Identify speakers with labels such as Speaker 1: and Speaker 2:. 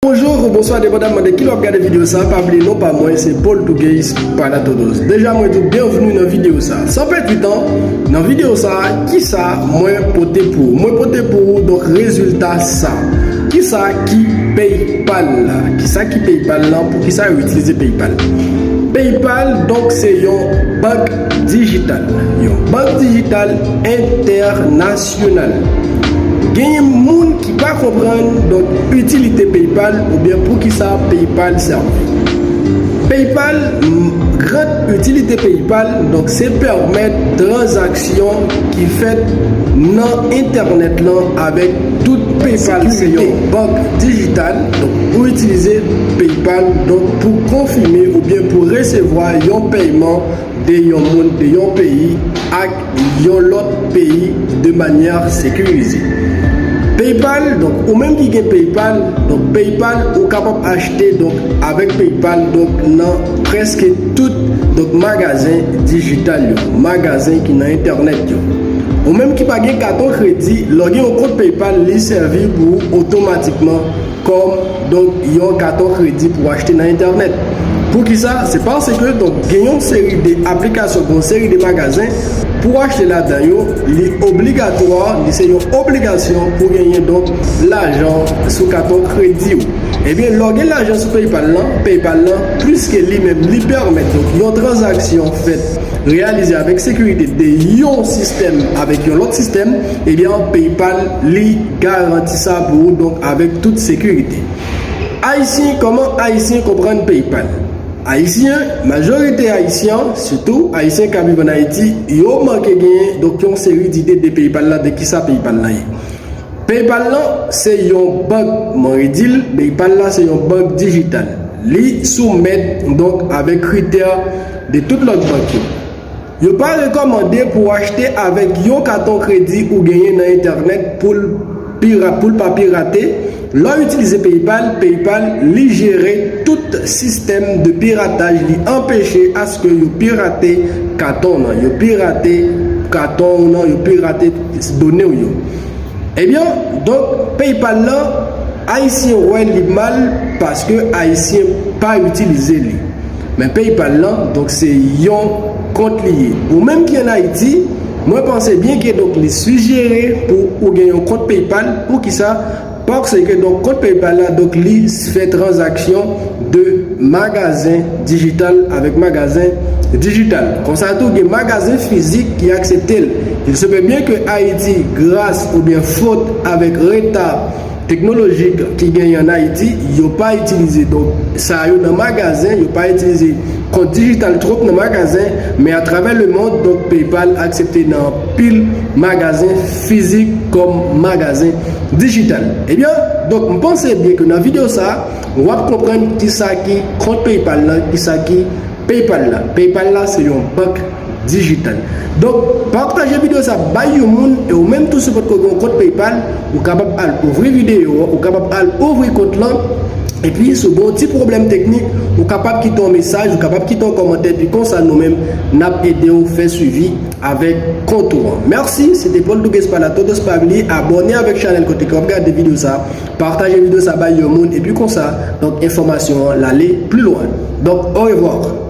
Speaker 1: Bonjour ou bonswa depandaman de ki lè wap gade video sa pa bliye non pa mwen se Paul Tougeis Palatodos deja mwen diw byenvni nan video sa san pèdi tan nan video sa kisa mwen pote pou ou mwen pote pou ou donk rezilta sa kisa ki paypal la kisa ki paypal lan poukisa yo itilize paypal paypal donk se yon bank dijital yon bank dijital entènasyonal genyen moun Pa konprann donk itilite PayPal oubyen poukisa PayPal sèvi. PayPal, Gran itilite PayPal donk se pèmèt tranzaksyon ki fèt nan entènèt lan avèk tout PayPal se yon bank dijital donk ou itilize PayPal donk pou konfime oubyen pou resevwa yon pèyman de yon moun de yon peyi ak yon lòt peyi de manyè sekirize. Paypal, donk ou menm ki gen Paypal, donk Paypal ou kapab achte donk avèk Paypal donk nan prèske tout donk magazen dijital yo, magazen ki nan entènèt yo. Ou menm ki pa gen katon kredi, lòge yon kont Paypal li sèvi pou ou otomatikman. Kòm, donk, yon katon kredi pou achte nan entènèt. Poukisa? Se pase ke, donk, gen yon seri de aplikasyon, gen yon seri de magazen, pou w achte ladan yo, li obligatwa, li se yon obligasyon pou genyen, donk, lajan sou katon kredi ou. Ebyen, lè w gen lajan sou PayPal lan, PayPal lan, pwiske li menm li pèmèt, donk, yon tranzaksyon fèt, reyalize avèk sekirite de yon sistèm avèk yon lòt sistèm, ebyen, PayPal li. Garanti sa pou ou donk avèk tout sekirite. Ayisyen Kòman Ayisyen konprann PayPal? Ayisyen, Majorite Ayisyan, sitou Ayisyen k ap viv ann Ayiti, yo manke genyen donk yon seri dide de PayPal la, de kisa PayPal la ye. PayPal la se yon bank kman yo di l, PayPal la se yon bank dijital. Li soumèt donk avèk kritè de tout lòt bank yo. Yo pa rekòmande pou w achte avèk yon katon kredi ou genyen nan entènèt pou l pou l pa pirate, lè w itilize PayPal, PayPal li jere tout sistèm de pirataj li anpeche aske yo pirate katon w nan, yo pirate katon w nan, yo pirate done w yo. Ebyen donk PayPal lan ayisyen wè li mal paske ayisyen pa itilize li. Men PayPal lan donk se yon kont li ye. Ou menm ki an Ayiti, mwen panse byen ke donk li sijere pou ou gen yon kont PayPal, pou ki sa? Parce ke donk kont PayPal la donk li fè transaction de magazen digital avec magazen digital. Konsa tou gen magazen fizik ki aksepte l. Il se peut bien que Ayiti gras ou byen fot avèk reta, Teknolojik ki genyen an Ayiti, yo pa itilize donk sa yo nan magazen, yo pa itilize kont dijital twop nan magazen, men atravè lemond donk PayPal aksepte nan anpil magazen fizik kòm magazen dijital. Ebyen, donk m panse byen ke nan videyo sa, wap konprann kisa ki kont PayPal lan, kisa ki. Paypal la Paypal la se yon bank dijital Donk pataje video sa bay yon moun e ou menm tou si ou potko gen yon kont Paypal ou kapab al ouvri video an ou kapab al ouvri kont lan epi si ou gen yon ti pwoblèm teknik ou kapab kite yon mesaj ou kapab kite yon kòmantè epi konsa nou menm nap ede ou fè swivi avèk kont ou an Merci se te Paul Duguespain la Todos pa bliye abòne avèk chanèl kote ke wap gade video sa. Partaje video sa bay yon moun epi konsa donk enfòmasyon an lale pli lwen. Donk orevwar!